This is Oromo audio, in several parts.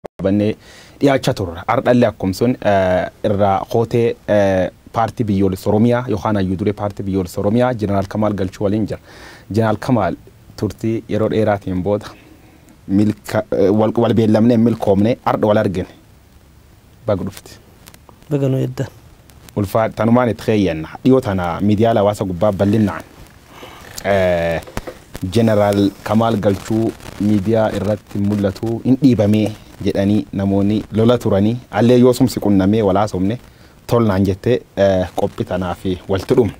qabannee dhiyaachaa turra. Hardhallee akkum sun irraa kootee Paartii Biyyoolessa Oromiyaa yookaan Hayyuu Duree Paartii Biyyoolessa Oromiyaa Jeneraal Kamaal Galchuu waliin jira. Jeneraal Kamaal turtii yeroo dheeraatiin booda milka wal beellamnee hin milkoomne hardha wal argine. Baga dhufte. Baga nu eddan. Ulfaa tanumaan itti keeyyanna. Dhiyoo tana miidiyaala hawaasa gubbaa ballinnaan Jeneraal Kamaal Galchuu miidiyaa irratti mul'atu hin dhiibamee jedhanii namoonni lola turanii allee yoosum si qunnamee wal haasofne tol naan jette qophi tanaaf walti dhum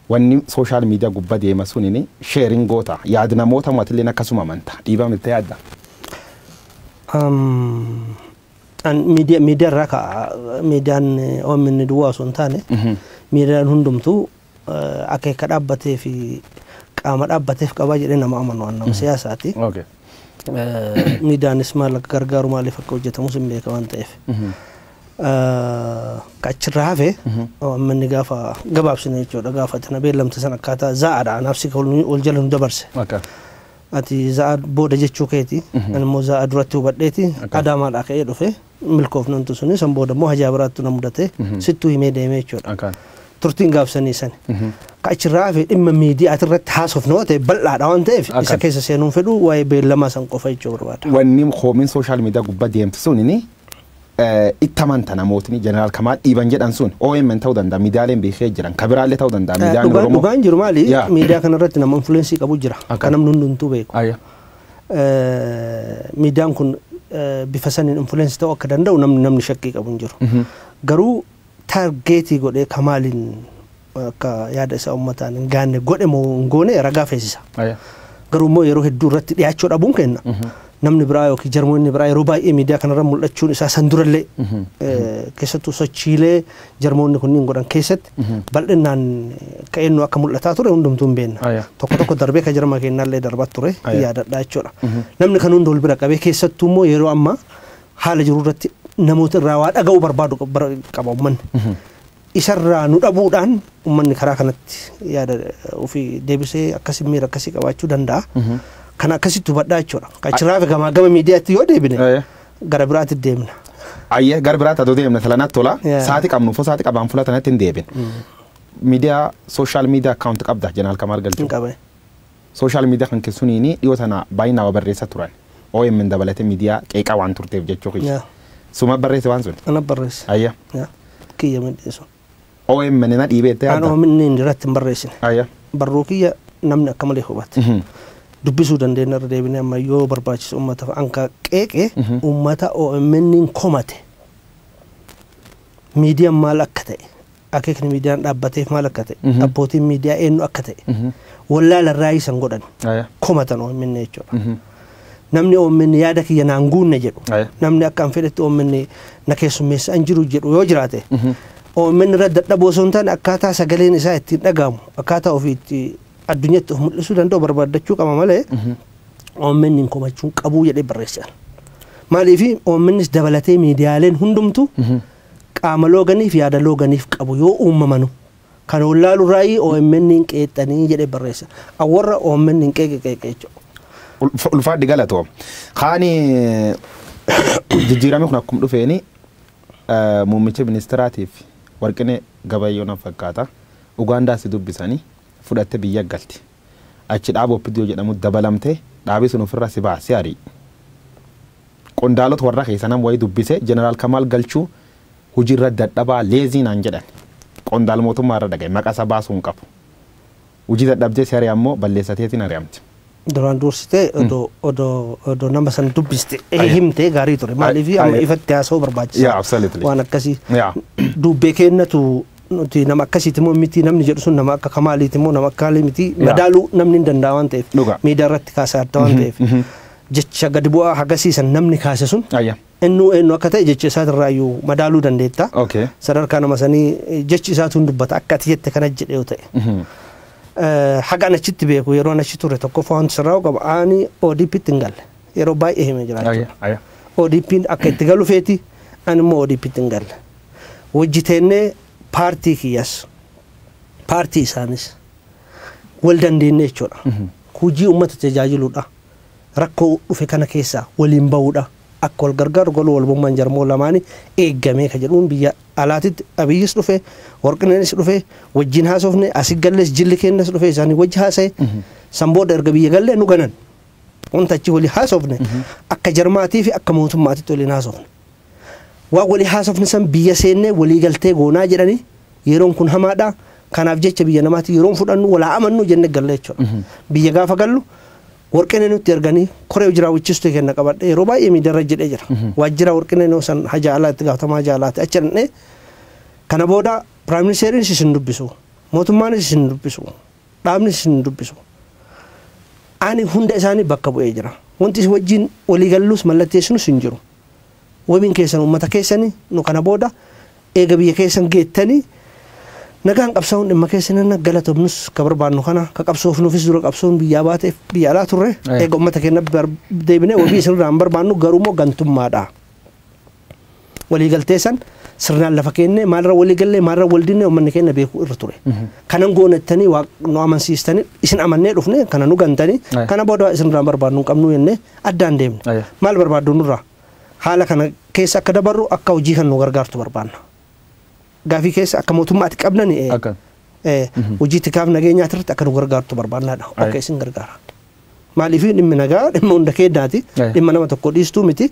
wanni sooshaal miidiyaa gubba deema sunin sheerin goota yaad namoota matilleen akkasuma amanta dhiibamilta yaadda? an miidiya- miidiyaa irraa ka'a miidiyaan OMN duwwaa osoo hin taane miidiyaan hundumtuu eh, akeeka dhaabbatee fi qaama dhaabbateef qabaa jedhee nama amanu an nama siyaasaati. Okay. Eh, Miidiyaanis maal akka gargaaru maaliif akka hojjetamus hin beeka waan ta'eef. Eh, Ka achirraa hafe OMN gaafa gabaabsine jechuudha gaafa tana beellamte san akkaataa zaa'aadha anaaf si ol jala nu dabarse. Akka. Ati Za'aa booda jechuu keeti. Ani immoo Za'aa duratti hubadheeti. Okay. Adaamaadhaa ka'ee dhufe. Milkoofnan tu suni san booda immoo hajaa biraattu na mudate. Sittuu himee deemee jechuudha. Okay. Turtiin gaafsanii sani. Ka achirraa hafe dhimma miidiyaati irratti haasofna yoo ta'e bal'aadha waan ta'eef Akkas. isa keessa seenuun fedhu waa'ee beellamaa san qofa jechuu barbaada. Wanni koomiin sooshaal miidiyaa gubbaa deemtu sunini itti amanta namootni jeneraal kamaal dhiiban jedhan sun OMN ta'uu danda'a miidiyaaleen beekee jiran ka biraallee ta'uu danda'a miidiyaan Dhugaa Oromoo. dhugaan jiru maali? Yaa. Miidiyaa kana irratti nama influensii qabu jira. Akka. Kan namni hundumtuu beeku. Ayya. Eh, Miidiyaan kun eh, bifa saniin influensii ta'uu akka danda'u namni namni shakkii qabu hin jiru. Garuu taargeetii godhee kamaaliin akka yaada isaa ummataan hin gaanne godhe moo hin goone ragaa feesisa. Aya. Garuu immoo yeroo hedduu irratti dhiyaachuu dhabuun kenna. Namni biraa yookiin jarmoonni biraa yeroo baay'ee miidiyaa kanarra mul'achuun isaa san durallee eh, keessattuu sochiilee jarmoonni kunniin godhan keessatti bal'inaan akka eenyu akka mul'ataa ture hundumtuu hin beekna. Aya. Tokko tokko darbee kan jarma keenyaallee darbaa ture Aya. yaadadhaa jechuudha. Namni kan hunda wal bira qabee keessattuu immoo yeroo ammaa haala jiru irratti namoota irraa waa dhaga'uu barbaadu qab- bara- qaba uummanni. Isa irraa nu dhabuudhaan ummanni karaa kanatti yaada ofii deebisee akkasi miira akkasii qabaachuu danda'a. Kana akkasitti hubadhaa jechuudha. Achirraa gamaa gama miidiyaatti yoo deebine Aye. gara biraatti deemna. Ayyee gara biraatti adoo deemna sila natti tola. Yeah. Saati qabnu fo saati qabaan fuula tanatti hin deebin. Miidiyaa sooshaal miidiyaa akkaawunti qabda jenaal kamaal galchuu. Hin qabe. Social media kan ke suniini dhiyoo tana baay'inaa wa barreessa turan omn dabalate media qeeqa waan turteef jechuu kiyya. Yeah. Suma barreesse waan sun? Ana barreesse. Ayya. Yeah. Kiyya midhee sun. omn na dhiibee itti yaadda? Aan omn inni irratti hin barreessine. Ayya. Barruu kiyya namni akka malee hubate. Dubbisuu dandeenya irra deebinee amma yoo barbaachisu uummata hanga qeeqe uummata omn komate miidiyaan maal akka ta'e akeekni miidiyaan dhaabbateef maal akka ta'e, abbootiin miidiyaa eenyu akka ta'e wallaalan raayii san godhan Aya. komatan OMN jechuudha. Namni OMN yaada kiyya naan guunne jedhu, Aya. namni akka an fedhetti OMN na keessummeessa an jiru jedhu yoo jiraate, OMN irra dadhaboo osoo hin taane akkaataa sagaleen isaa ittiin dhaga'amu, akkaataa ofii itti addunyatti of mul'isuu danda'u barbaaddachuu qaba malee OMN hin komachuun qabuu jedhee barreessan. Maaliif OMNs dabalatee miidiyaaleen hundumtu qaama looganiif yaada looganiif qabu yoo uummamanu kan wallaalu raayii OMNn qeeqxanii jedhee barreessa. An warra OMNn qeeqe qeeqe jechuudha. Ulfaadhi galatoom. Kaani jijjiirami kun akkum dhufeeni muummicha ministiraatiif Warqinee Gabayyoo nan fakkaata Ugaandaa si dubbisani fudhatte biyya galti. achi dhaaba opdo jedhamu dabalamte dhaabi sun ofirra si baha si ari'u qondaalota warra keessa nam wayi dubbise general kamaal galchuu hujirra dadhabaa leezii naan jedhan qondaal mootummaa irra dhagaye maqa isa baasuu hin qabu hujii dadhabdee si ari'an moo balleessa teetiin ari'amte. Duraan duursitee odoo odoo odoo nama san dubbiste Aye. himtee gaarii ture maaliif Aye. amma ifatti haasa'uu barbaachisa Yeah, absolutely. waan akkasii Yeah. duubbee keennatu Nuti nama akkasiiti moo miti namni jedhu sun nama akka kamaaliiti moo nama akka haalii miti Yaa. madaaluu namni hin danda'a waan ta'eef Dhugaa. miidiyaa irratti kaasaa adda waan ta'eef jecha gadi bu'aa hagasiisan namni kaase sun Ayya. eenyu eenyu akka ta'e jecha isaatirraa iyyuu madaaluu dandeetta. Okay. Sadarkaa nama sanii eh, jechi isaatu hin dubbata akka ati jette kana jedhe yoo ta'e. Eh, Hagaan achitti beeku yeroo an achi ture tokkoffaa wanti sirraa'u qaba ani ODPtti hin galle yeroo baay'ee himee jira Ayya. jechuudha. Ayya. ODPn akka itti galu feeti ani immoo ODPtti hin galle. wajji teennee paartii kiyyas paartii isaanis wal dandeennee jechuudha. Hujii uummata tajaajiluudha. Rakkoo dhufe kana keessaa waliin bahuudha. Akka wal gargaaru galuu walbummaan jarmoo lamaanii eeggamee ka jedhuun biyya alaatitti Abiyyis dhufe, Warqineenis dhufe, wajjin haasofne, asi gallees jilli keenyas dhufe isaanii wajji haasa'e. San booda erga biyya gallee nu ganan. Wanta achi waliin haasofne akka jarmaatii fi akka mootummaatitti waliin haasofne. Waan walii haasofne san biyya seennee walii galtee goonaa jedhanii yeroon kun hamaadha. Kanaaf jecha biyya namaatii yeroon fudhannu wal haa amannuu jennee galle jechuudha. Biyya gaafa gallu Warqinee nutti erganii koree hojii raawwachiistuu keenna qabadhee yeroo baay'ee miidiyaa irra jedhee jira. Waajjira Warqinee noo san haja alaa itti gaafatamaa haja alaati achi dhaqnee kana booda Piraayim Ministeeriinis isin hin dubbisu. Mootummaanis isin hin dubbisu. Dhaabnis isin hin dubbisu. Ani hunda isaanii bakka bu'ee jira. Wanti isin wajjin walii gallus mallatteessinus hin jiru. Wabiin keessan uummata keessani, nu kana booda eega biyya keessan geettani nagaan qabsaa'uun dhimma keessan jenna, galatomnus ka barbaannu kana, ka qabsoofnuufis dura qabsoon biyyaa baateef biyya alaa turre, Ee. eega uummata keenya bar- deebinee wabii isinirraa hin barbaannu, garuumoo gantummaadha. Waliigaltee san sirnaan lafa keennee maalirra waliigallee maalirra waldinnee uummanni keenya beekuu irra ture. Kanan goona jettanii waa nu amansiistanii isin amannee dhufne kana nu gantanii Aye. kana booda waa isinirraa barbaadnu hin qabnu jennee addaan deemne. Aye. Maal barbaaddu nurraa? Haala kana keessa akka dabarru akka hojii kan nu gargaartu barbaanna. Gaafii keessa akka mootummaatti qabnan eh, Akka. eh, hojii tikaaf nageenyaa irratti akka nu gargaartu barbaannaadha. Aye. Akka isin gargaara. Maaliif dhimmi nagaa dhimma hunda keenyaati. Aye. Dhimma nama tokko dhiistuu miti.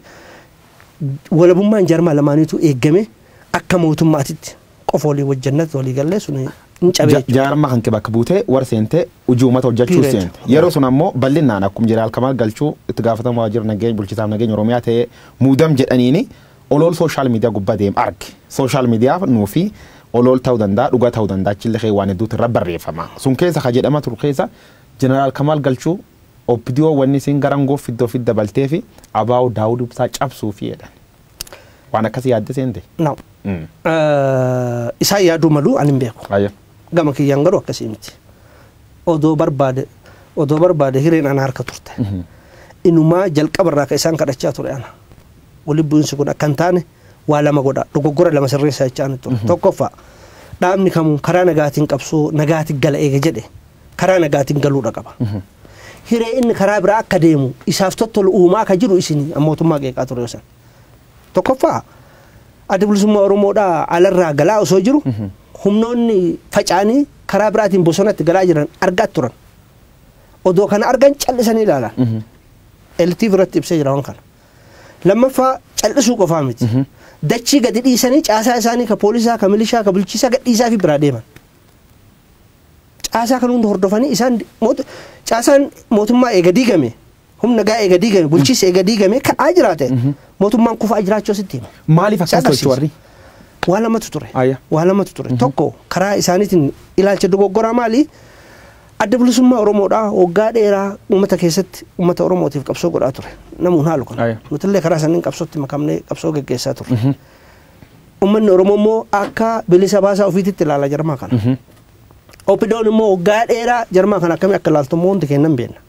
Walabummaan jarmaa lamaaniitu eegame akka mootummaatitti qofa walii wajjannatti walii gallee sun hin Ja- cabee. Jaarmaa kan bakka buutee warra seentee hojii uummata hojjechuu Period. seente. Yeroo sun ammoo bal'inaan akkuma jiraal kamaa galchuu itti gaafatamaa waajjira nageenya bulchitaaf nageenya Oromiyaa ta'ee muudam jedhaniini Olool social media gubba deem arge. Social media nuufi olool ta'u danda'a dhuga ta'u danda'a achille kee waan hedduutu irra barreeffama. Sun keessa ka jedhama turu keessa General Kamal Galchuu opdo wanni isiin gara angoo fidde ofitti dabalteefi abo Daawud Ibsaa cabsuufi jedhan. Waan akkasi yaadde seente? No. Isaan yaaduu malu ani hin beeku. Hayyee. Gama kiyyaan garuu akkasii miti. Odoo barbaade odoo barbaade hireen ana harka turte. Inumaa jalqaba irraa ka isaan kadhachaa ture ana. Walitti bu'insi kun akka hin taane waa lama godha. Dogoggora lama sirreessaa jechaa ani ture. Tokkoffaa dhaabni kamuu karaa nagaatiin qabsoo nagaatiin gala eega jedhe karaa nagaatiin galuudha qaba. Hiree inni karaa biraa akka deemu isaaf tottolu uumaa akka jiru isin mootummaa qeeqaa ture san. Tokkoffaa adda bilisummaa Oromoodhaa alarraa galaa osoo jiru humnoonni faca'anii karaa biraatiin bosonatti galaa jiran argaa turan. Odoo kana argan callisanii ilaalan. Elitiif irratti ibsee jira waan kana. Lammaffaa cal'isuu qofaa miti. Dachii gadi dhiisanii caasaa isaanii ka poolisaa, ka milishaa, ka bulchiisaa gad dhiisaafii biraa deeman. Caasaa kan hunda hordofanii isaan moot- caasaan mootummaa eega diigame, humna nagaa eega diigame, bulchiinsi eega diigame ka'aa jiraate mootummaan kufaa jiraachuu asitti hima. Maaliif Isa akkas agarsiisa. tolchu warri? Waa lamatu ture. Ayya. Waa lamatu ture. Tokko karaa isaaniitiin ilaalcha dogoggoraa maali? Adda Bilisummaa Oromoodhaa waggaa dheeraa uummata keessatti uummata Oromootiif qabsoo godhaa ture. Namuun haalu kana. Aya. Nutillee karaa saniin qabsootti makamnee qabsoo geggeessaa turre. Uummanni Oromoo immoo akka bilisa baasaa ofiititti ilaala jarmaa kana. Opidoon immoo waggaa dheeraa jarmaa kana akkamii akka ilaaltu immoo hundi keenya hin beekna.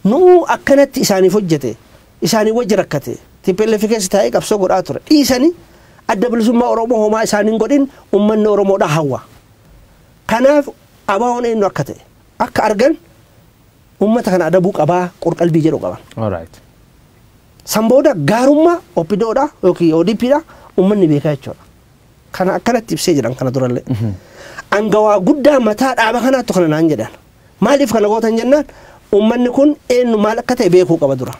Nuu akkanatti isaaniif hojjete, isaanii wajji rakkate, TPLF keessa taa'ee qabsoo godhaa ture. Dhiisanii adda bilisummaa Oromoo homaa isaaniin godhin uummanni Oromoodhaa hawwa. Kanaaf ABOn eenyu akka ta'e akka argan uummata kana adabuu qabaa qorqalbii jedhu qaban. Alright. San booda gaarummaa OPDO dha yookiin ODP dha uummanni beekaa jechuudha. Kana akkanatti ibsee jedhan kana durallee. Angawaa guddaa mataa dhaaba kanaattu kana naan jedhan. Maaliif kana gootan jennaan uummanni kun eenyu maal akka ta'e beekuu qaba dura.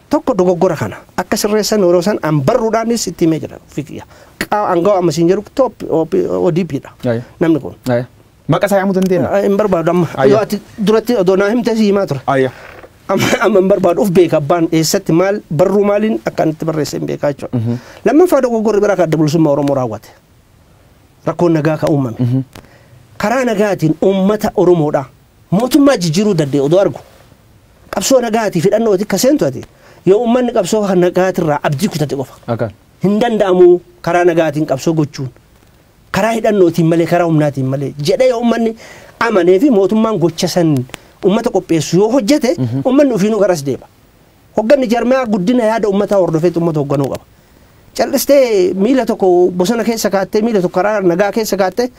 tokko dogoggora kana akka sirreessan yeroo san an barruudhaanis itti himee jira ofii kiyya Qaa- angawa amma siin jedhu top ODP dha Aye. namni kun Aye. Maqa isaa yaamuu dandeenya. Ah, hin barbaadu amma Aye. yoo ati duratti odoo naa himtee si himaa ture Aye. amma amma hin barbaadu of beeka abbaan eessatti maal barruu maaliin akka itti barreesse hin beekaa jechuudha lammaffaa dogoggorri biraa kan adda bilisummaa oromoo raawwate rakkoon nagaa kan uumame karaa nagaatiin uummata oromoodha Mootummaa jijjiiruu danda'e odoo argu qabsoo nagaatii fidhannootii akka seentu ati yoo ummanni qabsoo kan nagaatirraa abdii kutate qofa. Akan. Hin danda'amu karaa nagaatiin qabsoo gochuun karaa hidhannootiin malee karaa humnaatiin malee jedhee yoo ummanni amanee fi mootummaan gocha san ummata qopheessu yoo hojjete ummanni ofiinuu garas deema. Hogganni jaarmayaa guddina yaada ummataa hordofeetu ummata hogganuu qaba. Cal'istee miila tokko bosona keessa kaattee miila tokko karaa nagaa keessa kaattee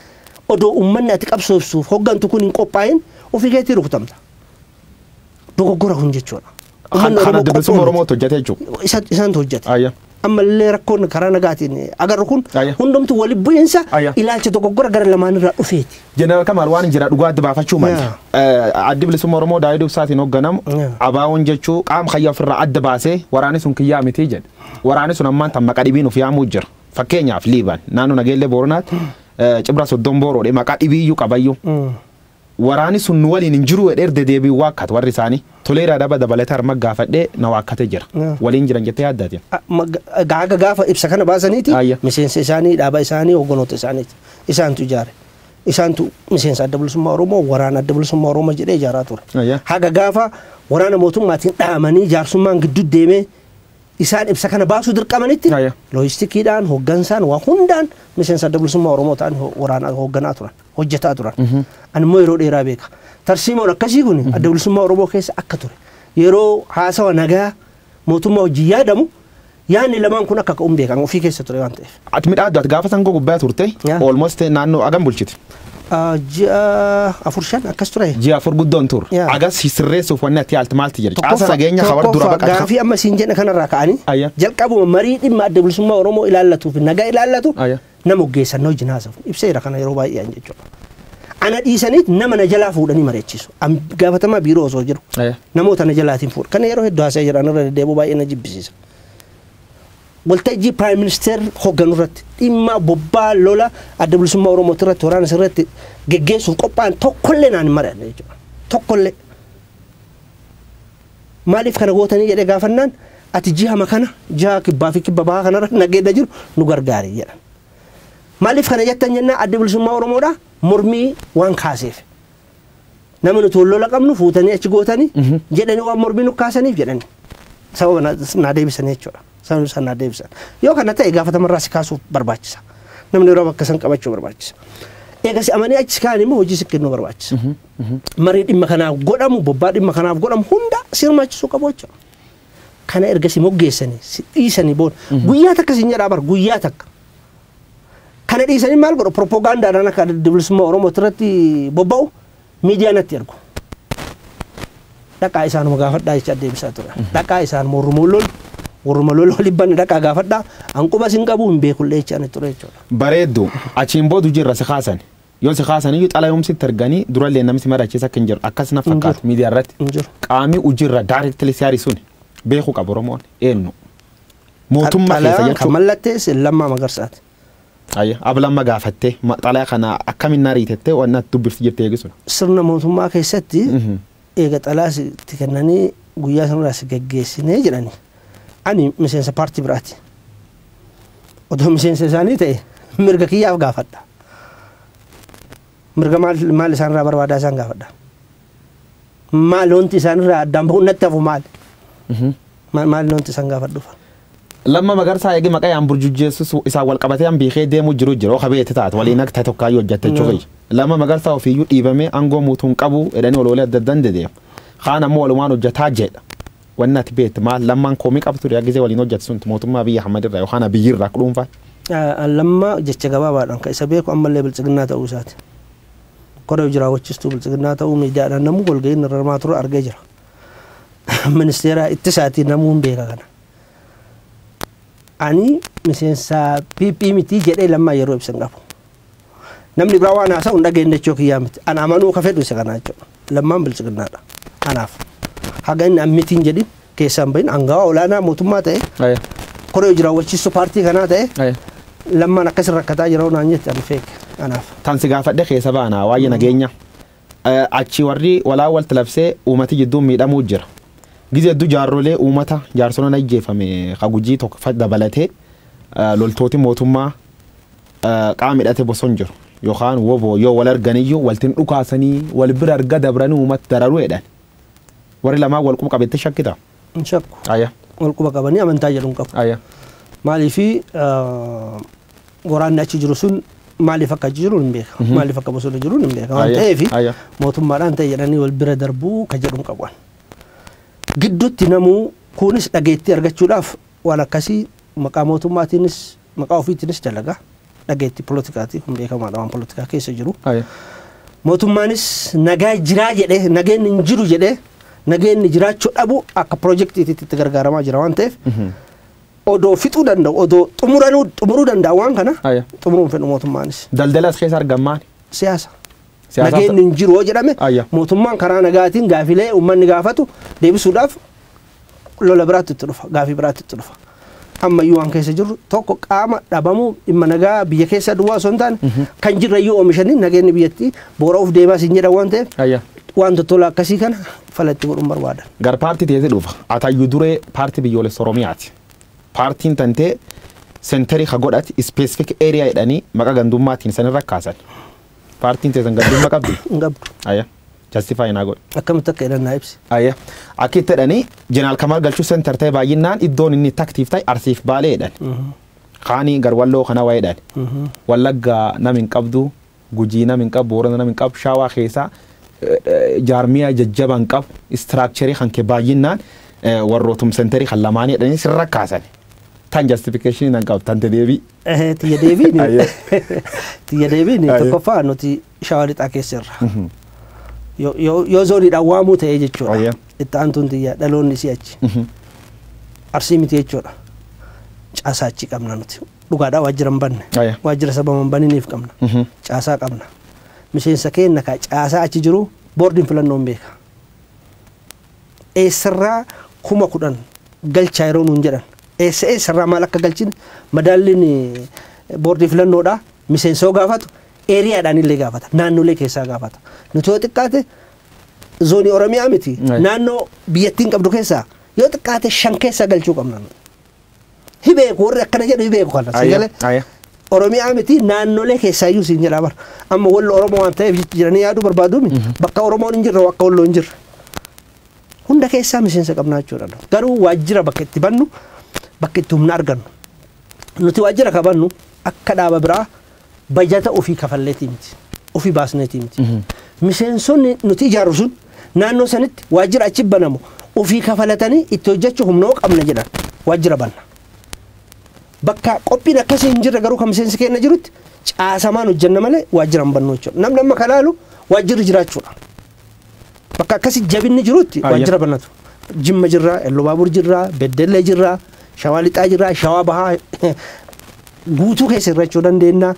odoo ummanni ati qabsoofsuuf hoggantu kun hin qophaa'in ofii keetii rukutamta. Dogoggora kun jechuudha. Ummanni Oromoo qophoo miti. Isaan hojjate. ammallee rakkoon karaa nagaatiin agarru kun Ayya. hundumtu walitti bu'iinsa Ayya. ilaalcha dogoggora gara lamaanirraa dhufeeti. Jeneraal Kamaal waan hin jira dhugaa adda baafachuu mali. Yaa. Eh, Addi bilisummaa Oromoo Daawid Ibsaatiin hoogganamu Yaa. abaawoon jechuu qaama kiyya ofirraa adda baasee waraanni sun kiyyaa mitii jedhe. Waraanni sun ammaan tan maqaa dhibiin of yaamuu jira. Fakkeenyaaf Liiban naannoo Nageellee Booranaatti eh, Cibra Soddon Booroodhe maqaa dhibiiyyuu qabayyuu. Waraani sun nu waliin hin jiruu jedhee irda deebiin waakkat warri isaanii. Toleeraa Daba dabalatee harma gaafadhee na waakkate jira. Waliin jiran jettee yaadda atin? Egaa haga gaafa ibsa kana baasaniiti miseensa isaanii, dhaaba isaanii, hogganoota isaaniiti. Isaantu ijaare. Isaantu miseensa Adda Bilisummaa Oromoo, waraana Adda Bilisummaa Oromoo jedhee ijaaraa ture. Haga gaafa waraana mootummaatiin dhaamanii jaarsummaan gidduu deemee isaan ibsa kana baasuu dirqamanitti loojistikiidhaan, hoggansaan, waa hundaan miseensa Adda Bilisummaa Oromoo ta'anii waraana hogganaa turan. hojjetaa turan. Ani immoo yeroo dheeraa beeka. Tarsiimoon akkasii kun adda bilisummaa Oromoo keessa akka ture. Yeroo haasawa nagaa mootummaa wajjin yaadamu yaadni lamaan kun akka ka'uun beekan ofii keessa ture waan ta'eef. Ati midhaa addaati gaafa sangoo gubbaa turte Yaa. almost naannoo agam bulchite. Ah, Ji'a afur shan akkas ture. Ji'a afur guddoon tur. Yaa. Agas sirreessuuf wanni ati yaalti maalti jedhe. Caasa Tokkoffaa- nageenya hawar dura tokkoffaa baqata. Gaafii amma siin jedhe kanarraa ka'anii Ayya. jalqabuma marii dhimma adda bilisummaa Oromoo ilaallatuuf nagaa ilaallatu Ayya. Nama oggeessan wajjin haasofne ibseera kana yeroo baay'ee an jechuudha. Ana dhiisaniit nama na jalaa fuudhanii mari'achiisu. An gaafatamaa biiroo osoo jiru Eh. namoota na jalaatiin fuudha. Kana yeroo hedduu haasa'ee jira an irra deddeebi'u baay'ee na jibbisiisa. Waltajjii Piraayim Ministeer hogganu irratti dhimma bobbaa lola adda bilisummaa Oromooti irratti waraana sirratti geggeessuuf qophaa'an tokkollee naan hin mari'anne jechuudha. Tokkollee. Maaliif kana gootanii jedhee gaafannaan ati jihama kana jiha kibbaa fi kibba bahaa kanarra nageedda jiru nu gargaari jedhan. Maaliif kana jettan jennaan addi bilisummaa Oromoodha mormii waan kaaseef. Nama nuti wal lola qabnu fuutanii achi gootanii jedhanii waan mormii nu kaasaniif jedhanii. Sababa na- naa deebisan jechuudha. Sababni isaan naa deebisan. Yoo kana ta'e gaafatamarraa si kaasuuf barbaachisa. Namni yeroo bakka san qabachuu barbaachisa. Eega si amanii achi si kaa'an immoo hojii si kennuu barbaachisa. marii dhimma kanaa godhamu bobbaa dhimma kanaaf godhamu hunda si hirmaachisuu qabu jechuudha. Kana erga si moggeessanii si dhiisanii booda guyyaa takka siin jedhaa bar guyyaa takka. Kana dhiisanii maal godhu propoogaandaadhaan akka adda bilisummaa Oromooti irratti bobba'u miidiyaa natti ergu. Dhaqaa isaanuma gaafadhaa jecha deebisaa ture. Dhaqaa isaanuma warruma lol warruma lol wal dhibbanne dhaqaa gaafadhaa hanquba sin qabu hin beekullee jechaan ture jechuudha. Bareeddu achiin boodu jirra si kaasan. Yoo si kaasaniyyuu xalayoom sitti erganii durallee namni si mari'achiisa akka hin jiru akkas na Hin jiru. fakkaata miidiyaa irratti Hin jiru. qaamii hojiirra directly si ari'u suni beekuu qaba Oromoon eenyu mootummaa keessa Xalayaan kan jechuudha. mallatteesse Lammaa Magarsaati. Ayya ablamma gaafattee ma- xalaya kana akkamiin na ariitettee waan natti dubbifti jettee eegisudha. Sirna mootummaa keessatti Mhm. eega xalaa si- itti kennanii guyyaa sanarraa si gaggeessinee jedhani. Ani miseensa paartii biraati. odoo miseensa isaanii ta'e mirga kiyyaaf gaafadha mirga maal maal isaan irraa barbaadaa isaan gaafadha maal wanti isaan irraa addaan bahuun natti hafu maal maal maal wanti isaan gaafadhuuf Lamma magarsaa eegi maqaa yaan burjujjeessus isaan wal qabatee an beekee deemuu jiru jiru oka beete taate waliin akka ta'e tokkaayyuu hojjette jechuu kiyya. Lamma magarsaa ofiiyyuu dhiibamee aangoo muutuun qabu jedhanii oloolee adda addan dedeemu. Kaan ammoo walumaan hojjetaa jedha. Wanni ati beektu maal? Lammaan komii qaba ture gisee waliin hojjate sun mootummaa Abiy Ahmad irraa yookaan Abiy irraa akka dhuunfaatti? An Lammaa jecha gabaabaadhaan kan isa beeku ammallee Biltsiginnaa ta'uu isaati. Koree hojii raawwachiistuu Biltsiginnaa ta'uu miidiyaadhaan namuu walgahii inni irra hirmaatu irra argee jira. Ministeera ittisaatii namuu hin beeka kana. Ani miseensa PP miti jedhee Lammaa yeroo ibsa hin qabu. Namni biraa waan haasa'u hin dhageenye jechuu kiyyaa miti. Ana amanuu ka fedhu isa kana jechuudha. Lammaan bilchiginnaadha. Kanaaf haga inni ammitiin jedhin keessaan bahin angawaa olaanaa mootummaa ta'e Aya. koree hojii raawwachiistuu paartii kanaa ta'e Aya. lammaan akkasii rakkataa jira naan jette ani feeke. Kanaaf. Tan si gaafadhe keessa baana waa'ee nageenya. Eh, Achi warri walaa walti labsee uummati jidduun miidhamuu jira. Gizee hedduu jaarrolee uummata jaarsoliin ajjeefame ka gujii tokko fa- dabalatee eh, loltooti mootummaa qaamni hidhate boson jiru yookaan woboo yoo wal arganiyyuu waltin dhukaasanii wal bira arga dabranii uumat dararu jedhan. Warri lamaan wal quba qabetti shakkita. Hin shakku. Aya. Wal quba qabanii amantaa jedhu hin qabu. Aya. Maaliif waraanni achi jiru sun maaliif akka achi jiru hin beeka. Maaliif akka bosona jiru hin beeka. Waan Aya. ta'eef Aya. mootummaadhaan ta'e jedhanii wal bira darbuu ka jedhu hin qabu. Gidduutti namuu kunis dhageettii argachuudhaaf waan akkasii Maqaa mootummaatiinis, maqaa ofiitiinis dalaga. Dhageettii polotikaatiin kun beekamaadha waan polotikaa keessa jiru. Aye. Mootummaanis nagaa jiraa jedhee, nageenni hin jiru jedhee, nageenni jiraachuu dhabu akka pirojektiitiitti itti gargaaramaa jira waan ta'eef odoo fixuu danda'u, odoo xumuranuu xumuruu danda'a waan kana Aye. xumuruu hin fedhu mootummaanis. Daldala as keessa argan maali? Siyaasa. Siyaasaaf- Nageenni hin jiru yoo jedhame Ayya. mootummaan karaa nagaatiin gaafilee uummanni gaafatu deebisuudhaaf lola biraatti itti dhufa gaafii biraatti itti dhufa amma iyyuu waan keessa jirru tokko qaama dhabamuu dhimma nagaa biyya keessa duwwaa osoo hin taane kan jirra iyyuu oomishanii nageenyi biyyattii boora'uuf deemaa siin jedhan waan ta'eef Ayya. waan tottolaa akkasii kana falatti godhuun barbaadan. Gar paartii teeti dhufa. Atayyu duree paartii biyyoolessa Oromiyaati. Paartiin tantee sentarii ka godhati ispeesifik eeriyaa jedhanii maqaa gandummaatiin sanirra kaasan. Paartiin teessan gandummaa qabdi. Hin qabdu. Ayya. Justify naa godhi. Akkamitti akka jedhan naa ibsi. Aye. Akki itti jedhani Jeneraal Kamaal Galchuu Center ta'e baay'inaan iddoon inni itti active ta'e Arsiif Baalee jedhan. Kaani Garwalloo kana waa'ee jedhan. Wallagga nam hin qabdu, Gujii nam hin qabu, Boorana nam hin qabu, Shaawaa keessa jaarmiyaa jajjaba hin qabu, structure kan kee baay'inaan warrootum centerii kan lamaanii jedhanii sirra kaasan. Tan justification nan qabu, tante deebii. Ehe, tiyya deebiin. Aye. Tiyya deebiin Aye. tokkoffaa nuti Shawaa Lixaa keessa irra. Yoo- Yoo yoo zooniidhaan waamuu ta'ee jechuudha. Ayyee. Itti aantuun tiyya dhaloonni isii achi. Arsii miti jechuudha. Caasaa achi qabna nuti. Dhugaadhaa waajjira hin banne. Ayyee. Waajjira sababa hin baniniif qabna. Caasaa qabna. Miseensa keenna kaa caasaa achi jiru boordiin filannoo hin beeka. Eessarraa kuma kudhan galchaa yeroo nuun jedhan. Eessa eessarraa maal akka galchin madaalliin eh, boordii filannoodhaa miseensa yoo gaafatu Eeriyaadhaan illee gaafata. Naannolee keessaa gaafata. Nuti yoo xiqqaate zoonii Oromiyaa miti. Right. Naannoo biyyattiin qabdu keessaa yoo xiqqaate shan keessaa galchuu qabna. nu. Hi beeku warri akkana jedhu hi beeku kana. Ayya, Sagalee ayya. Oromiyaa miti naannolee keessaa iyyuu siin jedhaa bara. Amma wallo Oromoo waan ta'eef jecha jiranii yaaduu barbaadu miti. Bakka Oromoon hin jirre akka walloo hin jirre. Hunda keessaa miseensa qabnaa jechuudha. nu. Garuu waajjira bakka itti bannu bakka itti humna argannu. Nuti waajjira qabannu akka dhaaba biraa Bajata ofii kafalleetii miti. Ofii baasneetii miti. Miseensonni nuti ijaarru sun naannoo sanitti waajjira achi banamu ofii kafalatanii itti hojjechuu humna yoo qabna jedhan waajjira banna. Bakka qophiin akkasii hin jirre garuu kan miseensi keenna jirutti caasamaan hojjenna malee waajjira hin bannu jechuudha. Namni amma ka laalu waajjirri jiraachuudha. Bakka akkasi jabinni jirutti Ayyee. waajjira banatu. Jimma jirra, Ellubaabur jirra, Beddellee jirra, Shawaa Lixaa jirra, Shawaa Bahaa guutuu keessa irra jechuu dandeenya.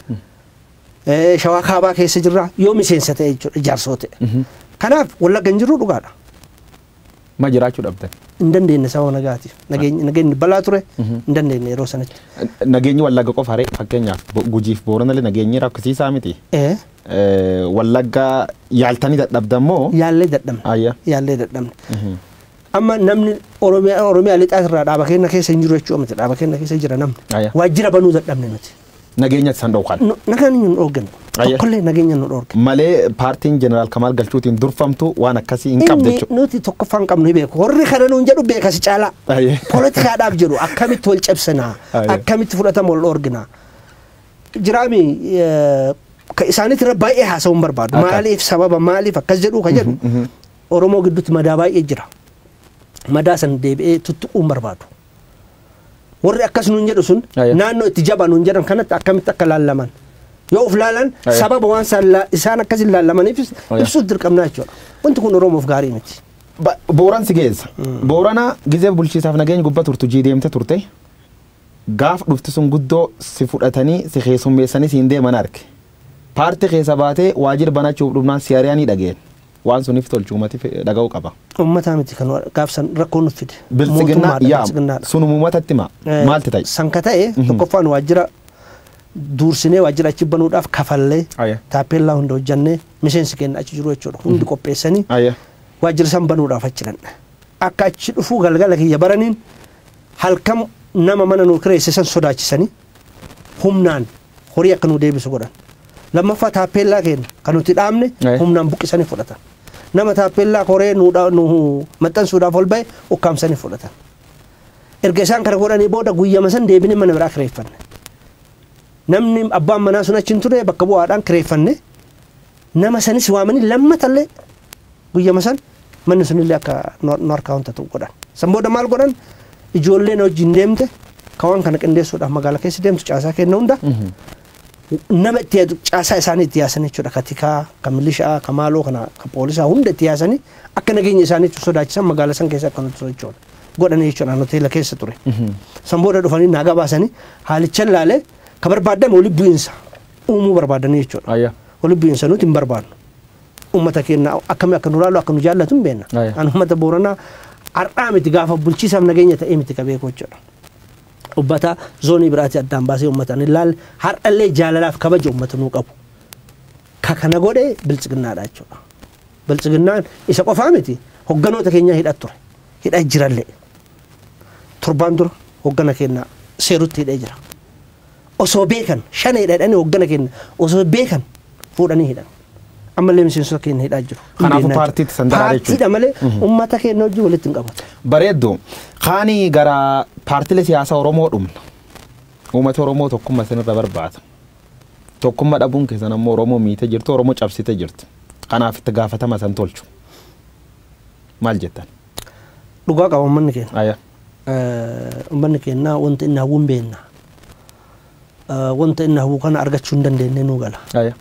Eh, Shawaa Kaabaa keessa jirra. Yoo miseensa ta'e jechuudha, ijaarsoo ta'e. Kanaaf wallagga hin jirru dhugaadha. Ma jiraachuu dhabdan? hin dandeenye sababa nagaatiif. Nageenyi nageenyi balaa ture Mhm. hin dandeenye yeroo sanatti. Nageenyi Wallagga qofa ree fakkeenyaaf Bo- Gujiif Booranallee nageenyi rakkisiisaa miti. Ee, Eh, Wallagga yaaltanii dadhabdan moo? Yaallee dadhabne. Ayya. Yaallee dadhabne. Mhm. Amma namni Oromiyaa Oromiyaa lixaa irraa dhaaba keenya keessa hin jiru jechuudha miti. Dhaaba keenya keessa jira namni. Ayya. Waajjira banuu dadhabne nuti. nageenya isan dhowkan. Nu- Nagaan hin dhoorgan. Ayyee. Tokkollee nageenya nu dhoorgan. Malee paartiin Jeneraal Kamaal Galchuutiin durfamtu waan akkasii hin qabde Inni jechuudha. nuti tokkoffaa hin qabnu beeku. Warri kana nuun jedhu beeka si caalaa. Ayyee. Poolitikaadhaaf jedhu akkamitti wal cabsinaa? Ayyee. Akkamitti fudhatama wal dhoorginaa? Jiraami eh, ka isaaniitti irra baay'ee haasa'uu hin barbaadu. Akka. Maaliif sababa maaliif akkas jedhu ka jedhu Oromoo gidduutti madaa baay'ee jira. Madaa san deebi'ee tuttuquu hin barbaadu. warri akkas nuun jedhu sun Aya. naannoo itti jabaa nuun jedhan kanatti akkamitti akka laallaman yoo of laalan Aya. sababa waan isaan laa- isaan akkas hin laallamaniifis Aya. ibsuus dirqamnaa jechuudha wanti kun oromoof gaarii miti Ba- Booran si geessa. Boorana gizee bulchiisaaf nageenya gubbaa turtu jii deemte turte. Gaaf dhufti sun guddoo si fudhatanii si keessummeessanii siin deeman arge. Paartii keessa baatee waajjira banachuuf dhufnaan si ari'anii dhageen. Waan sunif tolchuumatif dhaga'u qaba. Ummataa miti kan gaaf san rakkoo nuf fide. Biltsiginnaa Mootummaadha, yaama. biltsiginnaadha. Sun umumatatti hima. Eh, Maalti ta'e? San ka ta'e tokkoffaan waajjira duursinee waajjira achi banuudhaaf kafallee Aye. taappeellaa hunda hojjannee miseensi keenya achi jiru jechuudha hundi qopheessanii Aye. waajjira san banuudhaaf achi dhanne. Akka achi dhufuu galgala kiyya baraniin halkan nama mana nuu kireesse san sodaachisanii humnaan horii akka nu deebisu godhan. Lammaffaa taappeellaa keenya kan nuti dhaabne Eh. humnaan buqqisanii fudhatan. Nama taappeellaa koree nu dha- nu maxxansuudhaaf ol ba'e ukkaamsanii fudhatan. Erga isaan kana godhanii booda guyyama san deebinee mana biraa kireeffanne. Namni abbaan manaa sun achi hin ture bakka bu'aadhaan kireeffanne. Nama sanis waamanii lammatallee Guyyama san manni sunillee akka nu harkaa ontatu godhan. San booda maal godhan ijoollee na wajjin deemte ka waan kana qindeessuudhaaf magaala keessa deemtu caasaa kenna hunda nama itti yaadu caasaa isaanii itti yaasanii jechuudha ka tikaa ka milishaa ka maaloo kana ka poolisaa hunda itti yaasanii akka nageenya isaanii itti sodaachisan magaala san keessa akka nuti sochoonu godhanii jechuudha an hoteela keessa ture. San booda dhufanii naa gabaasanii haalichan laalee ka barbaadan walitti bu'iinsa uumuu barbaadanii jechuudha. Ayya. Walitti bu'iinsa nuti hin barbaadnu. Ummata keenna akkami akka nu laalu akka nu jaallatu hin beenna. Aya. An ummata Booranaa har'aa miti gaafa bulchiisaaf nageenya ta'ee miti ka beeku jechuudha. Ummata zoonii biraatii addaan baasee ummata ani laalle har'allee jaalalaaf kabaja ummata nuu qabu. Ka kana godhe biltsiginnaadha jechuudha. Biltsiginnaan isa qofaa miti hogganoota keenyaa hidhaa ture. Hidhaa jirallee. Torbaan dura hoggana keenna seerutti hidhee jira. osoo beekan shaneedha jedhanii hooggana keenya osoo beekan fuudhanii hidhan. Ammallee miseensota keenya hidhaa jiru. Hin Kanaafuu beeknaa paartiitti jechuudha. san daraa jechuudha. Paartiidha malee uummata keenya wajjin walitti hin qabatu. Bareeddu. Kaani gara paartilee siyaasaa Oromoo dhumna. Uummata Oromoo tokkummaa isinirra barbaada. Tokkummaa dhabuun keessan ammoo Oromoo miite jirtu, Oromoo cabsite jirtu. Kanaaf itti gaafatama san tolchu. Maal jettan? Dhugaa qaba uummanni keenya. Ayyaa. Ummanni keenna wanta inni hawwu hin beenna. Wanta inni hawwu kana argachuu hin dandeennee nuu gala. Aya.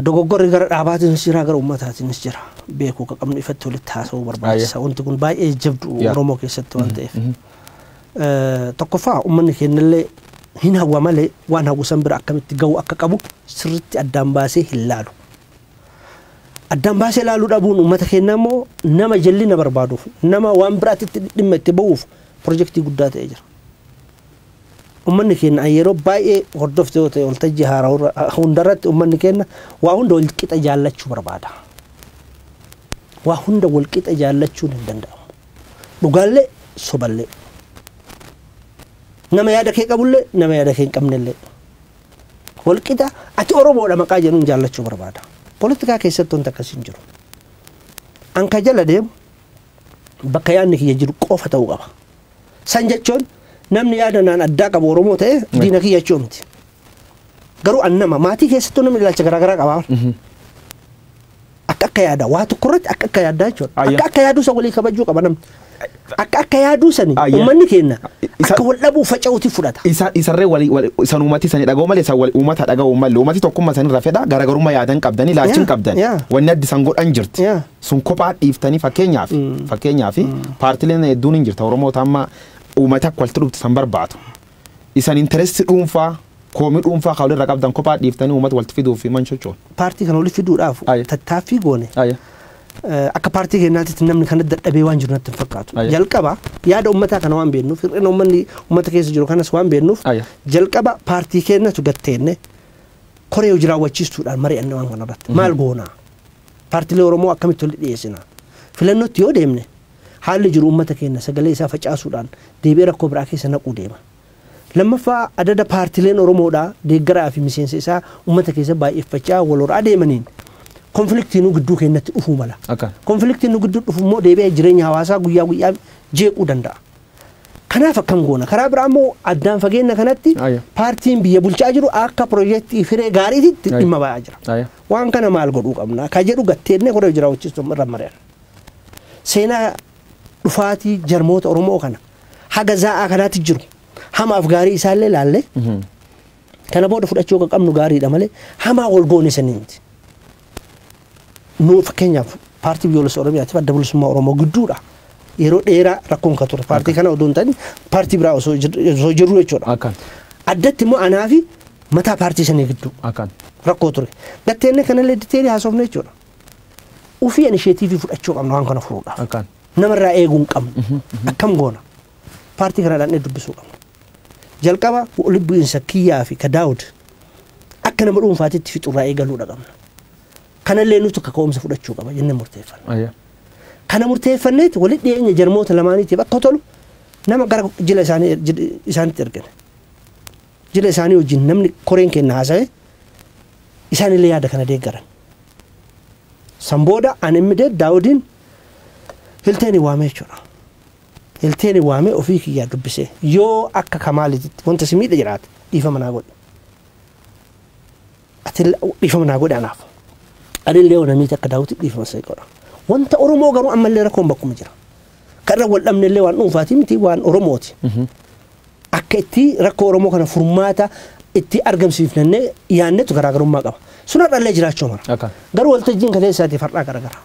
Dogoggorri gara dhaabaatiinis jira, gara ummataatiinis jira. Beekuu akka qabnu ifatti walitti haasa'uu Aya. barbaachisa. Wanti kun baay'ee jabdu Yaa. Oromoo keessatti waan ta'eef. Mhm. Eh, Tokkoffaa ummanni keennallee hin hawwa malee waan hawwu san bira akkamitti ga'uu akka qabu sirriitti addaan baasee hin laalu. Addaan baasee ilaaluu dhabuun uummata keenyaa immoo nama jallina barbaaduuf, nama waan biraatitti dhimma itti ba'uuf pirojektii guddaa ta'ee jira. Uummanni keenya an yeroo baay'ee hordofte yoo ta'e waltajjii haaraa hundarratti uummanni keenya waa hunda wal qixa jaallachuu barbaada. Waa hunda wal qixa jaallachuun hin danda'amu. Dhugaallee soballee. Nama yaada kee qabullee nama yaada kee hin qabnellee. Walqixa ati Oromoodha maqaa jedhuun jaallachuu barbaada. Politikaa keessatti wanti akkasii hin jiru. An ka jala deemu bakka yaadni kiyya jiru qofa ta'uu qaba. San jechuun namni yaada naan addaa qabu Oromoo ta'e diina kiyya jechuu miti. Garuu an nama maatii keessattuu namni ilaalcha garaagaraa qaba. Akka akka yaadaa waa tokko irratti akka akka yaadaa jechuudha. Ayya. Akka akka yaaduu san walii kabajuu qaba namni. Akka akka yaaduu sani Ayya. uummanni keenya Isa- akka wal dhabuu faca'uuti fudhata. isa isarree wali wali isan uumati isanii dhaga'u malee isan wali uummata dhaga'u malee uummati tokkummaa isanii irra fedha garaagarummaa yaadan qabdanii laachiin Yeah, qabdan yeah. wanni addi isan godhan jirti Yeah. sun kophaa dhiiftanii fakkeenyaaf fakkeenyaaf paartileen hedduun hin jirta oromoota amma uummata akka walitti dhuftu isan barbaadu Isan interest dhuunfaa, koomii dhuunfaa ka walirra qabdan kophaa dhiiftanii uummata walitti fiduuf fi man chochoon. Paartii kana walitti fiduudhaaf Aye. tattaaffii goone Aye. eh, akka paartii keenyaatitti namni kana dadhabee waan jiru natti hin fakkaatu. Aye. Jalqaba yaada uummataa kana waan beeknuuf hir'ina uummanni uummata keessa jiru kanas waan beeknuuf Aye. jalqaba paartii keenyatu gatteenne koree hojii raawwachiistuudhaan mari'anne waan kanarratti maal goonaa? Paartiilee Oromoo akkamitti walitti dhiyeessina? Filannootti yoo deemne Haalli jiru ummata keenya sagalee isaa facaasuudhaan deebi'ee rakkoo biraa keessa naquu deema. Lammaffaa adada paartileen Oromoodhaa deeggaraa fi miseensa isaa ummata keessa baay'effachaa wal horaa deemaniin konfiliktiinuu gidduu keenyatti dhufuu mala. Akka. Konfiliktiin nu gidduu dhufu immoo deebi'ee jireenya hawaasaa guyyaa guyyaa jeequu danda'a. Kanaaf akkam goona? Karaa biraa immoo addaan fageenna kanatti Ayya. paartiin biyya bulchaa jiru akka piroojeektii firee gaariitti Ayya. dhimma ba'aa jira. Ayya. Waan kana maal godhuu qabna? Ka jedhu gatteennee koree hojii raawwachiistuu irra mari'anna. seenaa dhufaatii jarmoota Oromoo kana haga zaa'aa kanaatti jiru hamaaf gaarii isaallee laallee kana booda fudhachuu kan qabnu gaariidha malee hamaa wal goone sanii miti. Nu fakkeenyaaf paartii biyyoolessa Oromiyaatiif adda bilisummaa Oromoo gidduudha. Yeroo dheeraa rakkoon kan ture paartii kana odoo hin taane paartii biraa osoo jir- osoo jirru jechuudha. Akkan. Addatti immoo anaa fi mataa paartii sanii gidduu Akkan. rakkoo ture. Gatteenna kanallee diteerii haasofne jechuudha. Ufii inisheetiivii fudhachuu qabna waan kana furuudhaaf. Akkaan. Nama irraa eeguu hin qabnu. Akkam goona? Paartii kana dhaannee dubbisuu qabna. Jalqaba walitti bu'iinsa kiyyaa fi ka Daawud akka nama dhuunfaatitti fixu irraa eegaluudha qabna. Kanallee nutu kaka'umsa fudhachuu qaba jennee murteeffanna. Ayya. Kana murteeffanneeti walitti dhiyeenya jarmoota lamaaniitiif akka tolu nama gara jila isaanii jil- isaanitti ergine. Jila isaanii wajjin namni koreen kenna haasa'e Isaan illee yaada kana deeggaran. San booda an immediate Daawudiin Hilteeni waamee jechuudha. Hilteeni waamee ofii kiyyaa dubbisee yoo akka Kamaaliititti wanta si miidhe jiraate dhiifama naa godhi. Ati dhiifama naa godhi anaaf. Ani illee ona miiti akka Daawuti dhiifama si godha. Wanta Oromoo garuu ammallee rakkoon bakkuma jira. Kan irra wal dhabne illee waan dhuunfaati miti waan Oromooti. akka itti rakkoo Oromoo kana furmaata itti argamsiifnannee yaannetu garaagarummaa qaba. Sun har'allee jiraachuu mala. Akka. Garuu waltajjiin kaleessaatiif har'aa garagara.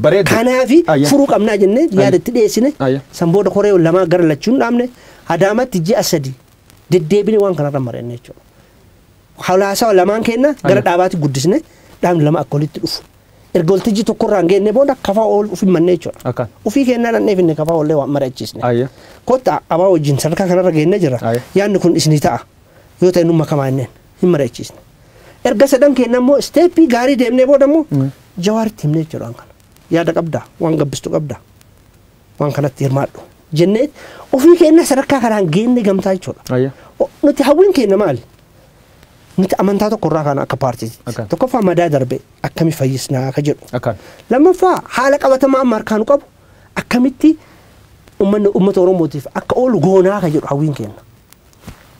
Bareeda. Kanaafi Ayya. furuu qabnaa jennee Ayya. yaada itti dhiyeessine Ayya. san booda koree lamaa gara lachuun dhaabne adaamatti ji'a sadi deddeebine waan kanarra mari'anne jechuudha. Hawlaasawa lamaan keenna gara dhaabaatti guddisne dhaabni lama akka walitti dhufu. Erga waltajjii tokkorraan geenne booda kafaa ool ufin mannee jechuudha. Akkaan. Ufii keenna dhannee finne kafaa oollee waan mari'achiisne. Ayya. Kottaa abaa wajjin sadarkaa kanarra geenne jirra. Ayya. Yaadni kun isinii ta'a. Yoo ta'e numma kamaa inneen hin mari'achiisne. Erga sadan keenna immoo isteeppii gaarii deemnee booda immoo jawaaritti himnee jechuudha waan kana. Yaada qabdaa? Waan gabbistu qabdaa? waan kanatti hirmaadhu jennee ofii keenya sadarkaa kanaan geenne gamtaa jechuudha. Ayya. O- Nuti hawwiin keenya maali? Nuti amantaa tokko irraa kaana akka paartiiti. Akka. Tokkoffaa madaa darbe akkami fayyisnaa akka jedhu. Akkaan. Lammaffaa haala qabatamaa amma harkaa nu qabu akkamitti uummanni uummata Oromootiif akka oolu goonaa akka jedhu hawwiin keenya.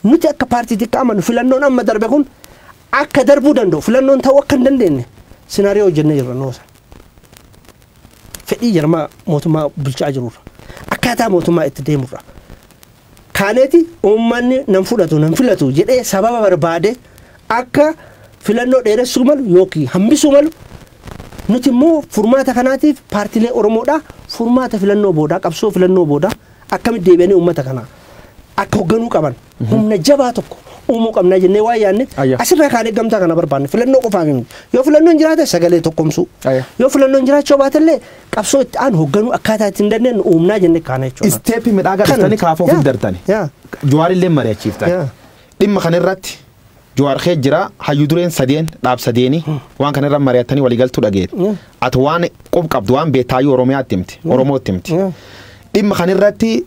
Nuti akka paartiitti akka amanu filannoon amma darbe kun akka darbuu danda'u filannoon ta'uu akka hin dandeenye sinaariyoo hojjennee jirra noosa. fedhii jarmaa mootummaa bulchaa jirurra akkaataa mootummaa itti deemurra kaaneeti uummanni nan fudhatu nan filatu jedhee sababa barbaade akka filannoo dheeressuu malu yookiin hambisuu malu nuti immoo furmaata kanaatiif paartilee Oromoodhaa furmaata filannoo boodaa qabsoo filannoo boodaa Akkamitti deebi'anii uummata kana akka hogganuu qaban humna jabaa tokko uumuu qabnaa jennee waan yaadne Ayya. asirraa kaanee gamtaa kana barbaanne filannoo qofaaf hin yoo filannoon jiraate sagalee tokkomsuu Ayya. yoo filannoon jiraachuu baatellee qabsoo itti aanu hogganuu akkaataa itti hin dandeenye uumnaa jennee kaana jechuudha. Isteeppi midhaa Kana. gadhiistanii kaafoo Yaa. fiddartani. Yaa. Jawaarillee mari'achiiftani. Yaa. Dhimma kanarratti Jawaar kee jira hayyu dureen sadeen dhaab sadeeni waan kana irra mari'attanii walii galtuu dhageeti. Mm. Ati waan qub qabdu waan beektaayyuu Oromiyaatti himti Oromootti himti. Mm. Dhimma kan irratti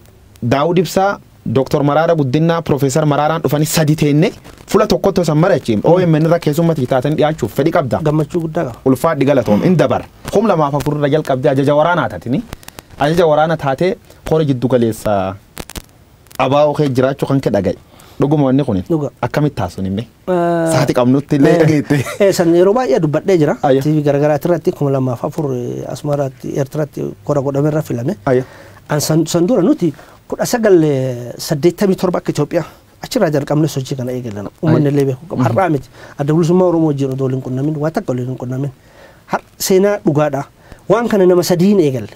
Daawud Ibsaa Dooktor Maraara Guddinaa Piroofeesar Maraaraan dhufanii sadi teenne fula tokkotti osoo hin mari'achiin OMN irra keessummatti taatanii dhiyaachuuf fedhi qabda. gammachuu guddaa qaba. ulfaadhi galatoom in dabar kum lamaaf afur irra jalqabdee ajaja waraanaa taatini ajaja waraana taatee hora jiddu galeessa Abaa'oo kee jiraachuu kan kee dhaga'i. Dhuguma wanni kun Dhuga. akkamitti taasisuun himme? Saati qabnutti illee dhageette. Eh, san yeroo baay'ee dubbadhee jira. Ayya. TV garagaraatti irratti kuma lamaaf afur eh, Asmaraatti Eertiraatti kora godhame irra filame. Ayya. An san, san dura nuti kudha sagal eh, saddeettamii torba akka Itoophiyaa achirraa jalqabne sochii kana eegalan uummanni illee beeku qaba. Har'aa miti. Adda bilisummaa Oromoo wajjin odoo waliin qunnamin waa takka waliin hin qunnamin. Har- Seenaa dhugaadha. Waan kana nama sadiin eegalle.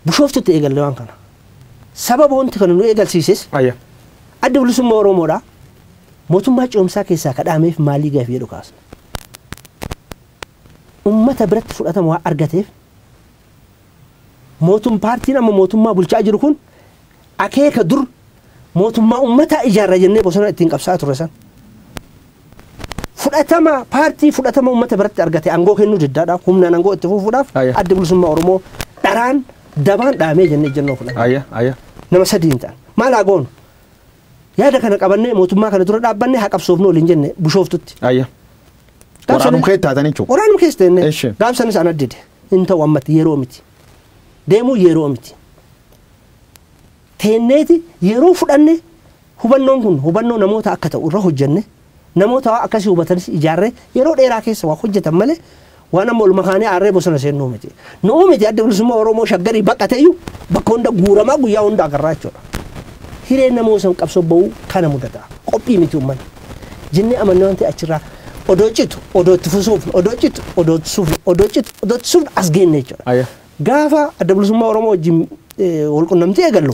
Bushooftutti eegalle waan kana. Sababa wanti kana nu eegalsiises Ayya. Addi Bilisummaa Oromoodhaa mootummaa ce'umsaa keessaa ka dhaameef maalii gaaffii jedhu kaasna. Ummata biratti fudhatama waan argateef mootum paartiin amma mootummaa bulchaa jiru kun Akeeka dur mootummaa ummataa ijaarra jennee bosona ittiin qabsa'aa turre san fudhatama paartii fudhatama ummata biratti argate angoo kennuu diddaadhaaf humnaan angoo itti fuufuudhaaf Ayya. adda bilisummaa Oromoo dharaan dabaan dhaamee jennee ejjennoo fudhanne. Ayya, ayya. nama sadiin ta'an maal haa goonu yaada kana qabannee mootummaa kana dura dhaabbanne haa qabsoofnu waliin jenne bushooftutti Ayya. Gaafsan- Waraanum kee taatan jechuudha. waraanum keessa teenne Eshi. gaafsanis ana dide hin ta'u ammatti yeroo miti deemuu yeroo miti teenneeti yeroo fudhanne hubannoon kun hubannoo namoota akka ta'u irra hojjenne namoota waan akkasii hubatanis ijaarree yeroo dheeraa keessa waa hojjetan malee waan amma olma kaanee aarree bosona seennuu miti. Nu'uu miti adda bilisummaa Oromoo shaggarii baqateeyyuu bakka hunda guuramaa guyyaa hunda agarraa jechuudha. Hireen nama osan qabsoo ba'uu kana mudata. Qophii miti uummanni. Jennee amanne waan ta'e achirraa odoo citu odoo itti fusuufnu odoo citu odoo itti sufnu odoo citu odoo itti sufnu as geenne jechuudha. Aya. Gaafa adda bilisummaa Oromoo wajjin walqunnamtii eegallu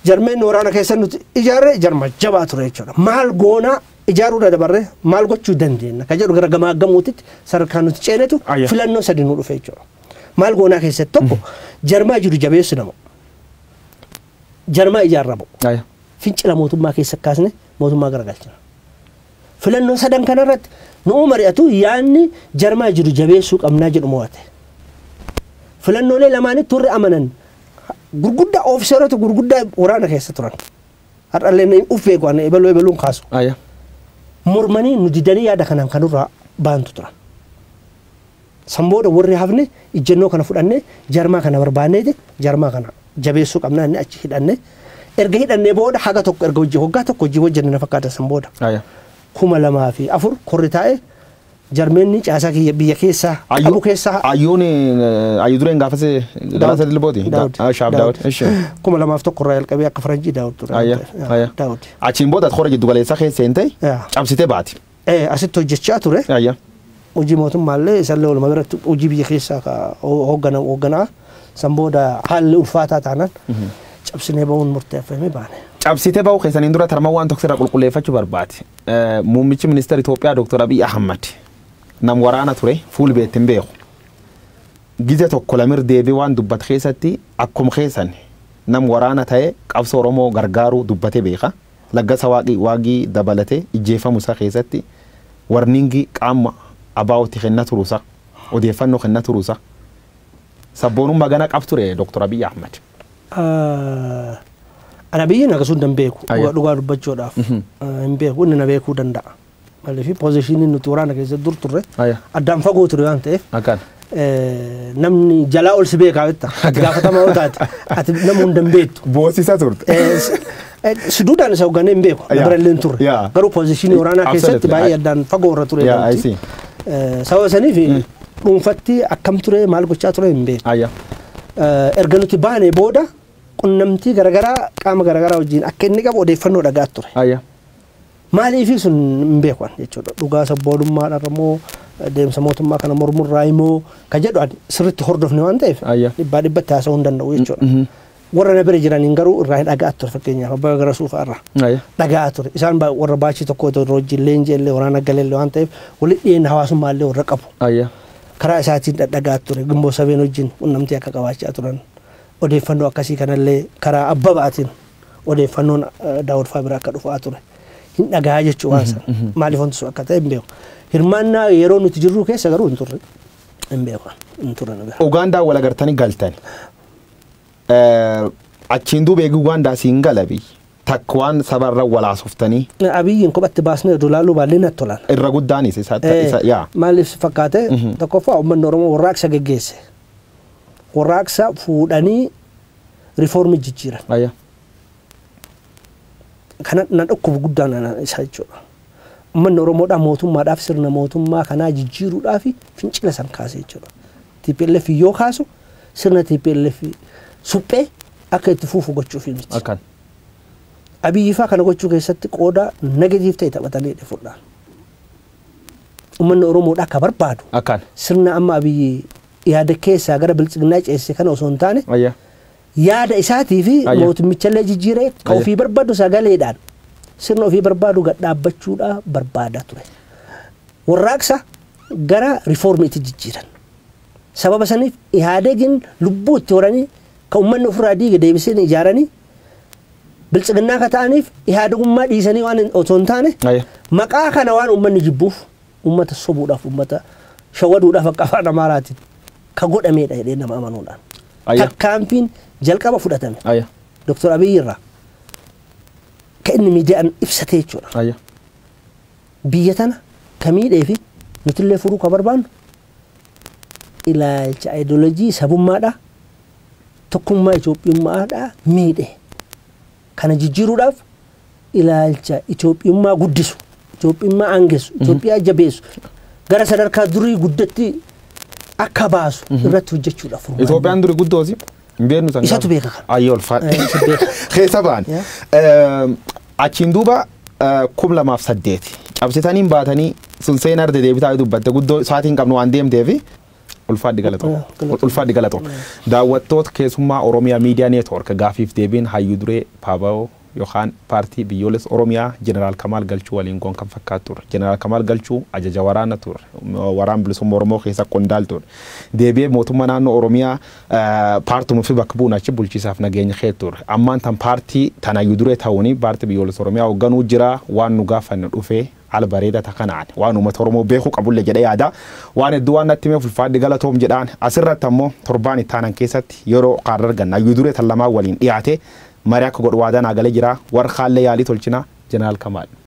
jarmeen waraana keessa nuti ijaarre jarma jabaa ture jechuudha. Maal goonaa ijaaruu irra dabarre maal gochuu dandeenya kan jedhu gara gamaa gamuutitti sadarkaa nuti ceenetu Ayya. filannoo sadi nu dhufe jechuudha. Maal goonaa keessatti tokko jarmaa jiru jabeessu nama. Jarmaa ijaarramu. Ayya. Fincila mootummaa keessa kaasne mootummaa garagalchina. Filannoo sadan kana irratti nu'uu mari'atu yaadni jarmaa jiru jabeessuu qabnaa jedhu mo'ate. Filannoolee lamaanitti warri amanan gurguddaa ofiseerota gurguddaa waraana keessa turan. Har'allee uf beeku ani ebaluu ebaluun kaasu. Aya. Mormanii nu didanii yaada kanaan kanurraa baantu turan. San booda warri hafne ijjannoo kana fudhanne jarmaa kana barbaanneeti jarmaa kana jabeessuu qabna jennee achi hidhanne. Erga hidhannee booda haga tokko erga hojii waggaa tokko hojii hojjenne na fakkaata san booda. Aya. 2004 korri taa'e jarmeenni caasaa kiyya biyya keessaa qabu Ayyu keessaa ayyuun eh, ayyu dureen gaafase Daawud. galaasa dilbooti. Da- Daawud. ah, Shaaf Daawud. Daawud. Ishi. 2001 irraa jalqabee akka faranjii Daawud ture. Aya. Aya. Daawud. Achiin booda kora jiddu galeessaa keessa seentee Yaa. cabsitee baati. eh, asitti hojjechaa ture. Ayya. Hojii mootummaallee isallee walumaa galatti hojii biyya keessaa ka ho- hooggana hoogganaa san booda haalli ulfaataa taanaan cabsinee ba'uun murteeffamee baane. Cabsitee ba'uu keessaniin dura tarma waan tokko irraa qulqulleeffachuu barbaade. Eh, Muummichi ministeera Itoophiyaa Dr. Abiy Ahmad nam waraana ture fuul beetti hin beeku. Gija tokko lamir deebii waan dubbate keessatti akkuma keessan nam waraana ta'e qabsoo Oromoo gargaaruu dubbatee beeka. Laggasa Waaqi, Waagi, dabalate ijjeefamu isaa keessatti warning qaamma ABOti kenna turu isaa, odeeffanno kenna turu isaa. Sabboonumma gana qab ture Doktor Abiy Ahmed. An Abiyin akasumtan beeku dhugaa dubbachuudhaaf hin beeku inni na beekuu danda'a. Maaliif poozishinii nuti waraana keessa dur turre Aya. addaan fagoo ture waan ta'eef Akkaan. eh, namni jalaa ol si beekaa jetta. Itti gaafatamaa yoo taate ati nama hunda hin beektu. Boosisaa turte. Eh, s- eh, Suduudhaan isa hoogganee hin beeku. Na Yeah. bira illee hin turre. Yeah. Garuu poozishinii waraanaa Absolutely. keessatti baay'ee I- addaan fagoo irra ture. Yeah, I see. Eh, Sababa saniif dhuunfatti akkam ture maal gochaa ture hin beeku. Aya. Eh, Erga nuti baanee booda qunnamtii garaagaraa qaama garaagaraa wajjin akka inni qabu odeeffannoo dhagaa ture. Aya. Maaliifii sun hin beeku ani jechuudha. Dhugaa sabboonummaadhaarra moo deemsa mootummaa kana mormurraayi moo ka jedhu ani sirriitti hordofne waan ta'eef Ayya. dhibbaa dhibbatti haasa'uu hin danda'u jechuudha. Warra na bira jiraniin garuu irraa hin dhaga'aa ture fakkeenyaaf abbaa gara suufaa irraa. Ayya. dhaga'aa ture. Isaan baa- warra baachii tokko otoo irra wajjin leenjii illee waraana galee illee waan ta'eef walitti dhiyeenya hawaasummaa illee warra qabu. Ayya. Karaa isaatiin dhadhagaa ture gimboo sabeen wajjin qunnamtii akka qabaachaa turan odeeffannoo akkasii kanallee karaa abbabaatiin odeeffannoon Daawud Faa bira akka dhufaa ture hin dhagahaa jechuu waan sana maaliif wanti sun akka ta'e hin beeku. Hirmaannaa yeroo nuti jirru keessa garuu hin turre hin beeku hin turre nu bira. Ugaandaa wal agartanii galtani. Eh, Achiin duuba eegi Ugaandaa siin gala biyyi. Takka waan sabarra wal haasoftanii Abiyyiin kophatti baasnee oduu laaluu baallee natti tolaan. irra guddaanis isa Eh, isa- yaa. Maaliif si fakkaate tokkoffaa uummanni Oromoo warraaqsa geggeesse. Warraaqsa fuudhanii rifoormi jijjiiran. Aya. Kana na dhukkubu guddaan ana isa jechuudha. Uummanni Oromoodhaa mootummaadhaaf sirna mootummaa kanaa jijjiiruudhaaf fincila san kaase jechuudha. TPLF yoo kaasu sirna TPLF suphee akka itti fuufu gochuuf miti. Akkan. Abiyyifaa kana gochuu keessatti qooda negatiiv ta'e taphatanii dhifudhaan. Uummanni Oromoodhaa akka barbaadu Akkan. sirna amma abiyyi yaada keessaa gara biltsiginnaa ceesise kana osoo hin taane Ayya. yaada isaatii fi Ayya. mootummichallee jijjiiree ka Ayya. ofii barbaadu sagaleedhaan sirna ofii barbaadu gad dhaabbachuudhaa barbaada ture. Warraaqsa gara rifoormiitti jijjiiran. Sababa saniif Ihaadegiin lubbuu itti horanii ka uummanni ofirraa diige deebisanii ijaaranii biltsiginnaa ka ta'aniif Ihaadegummaa dhiisanii waan hin- otoo hin taane Ayya. maqaa kana waan uummanni jibbuuf ummata sobuudhaaf ummata shawaduudhaaf akka afaan amaaraatiin ka godhameedha jedhee nama amanuudhaan Ayya. takkaanfiin jalqaba fudhatame Ayya. Dr. Abiy irraa ka inni miidiyaan ibsatee jechuudha. Ayya. Biyya tana ka miidhee fi nutillee furuu ka barbaannu ilaalcha ideolojii sabummaadhaa tokkummaa Itoophiyummaadhaa miidhe. Kana jijjiiruudhaaf ilaalcha Itoophiyummaa guddisu, Itoophiyummaa aangessu, Itoophiyaa jabeessu, gara sadarkaa durii guddatti akka baasu irratti hojjechuudha furmaanni. Itoophiyaan duri guddoosi hin beeknu san Isatu beeka kana. Ayyoo Eh, ulfaadha. isa beeka. Keessa ba'an. Yeah. Ehm, Achiin duuba eh, kum lamaaf saddeeti. Cabsitaniin baatanii sun seenaa arda deebitaa yoo dubbatte guddoo isaatii hin qabnu waan deemteefi ulfaadhi galatoo. Yeah, galatoo. Ulfaadhi galatoo. Daawwattoota keessummaa Oromiyaa Miidiyaa Neetwoork gaafiif deebiin hayyuu duree Paabaoo yookaan Paartii Biyyoolessa Oromiyaa Jeneraal Kamaal Galchuu waliin goon kan fakkaatu turre. Jeneraal Kamaal Galchuu ajaja waraana turre. Waraan Bilisumma Oromoo keessa qondaal turre. Deebi'ee mootumma naannoo Oromiyaa paartum ufi bakka buun achi bulchiisaaf nageenya kee turre. Ammaan tan paartii tan hayyu duree ta'uun Paartii Biyyoolessa Oromiyaa hogganuu jira. Waan nu gaafanne dhufee. Haala bareedaa ta kanaan waan uummata Oromoo beekuu qabulle jedhee yaada. Waan hedduu waan natti himeef ulfaadhi galatoom jedhaan. As irratti ammoo torbaan itti aanan keessatti yeroo kaarra arganna. Hayyuu duree tan lamaan waliin dhiyaatee marii akka godhu waadaa naa galee jira. Warri kaallee yaalii tolchina. Jeneraal Kamaal.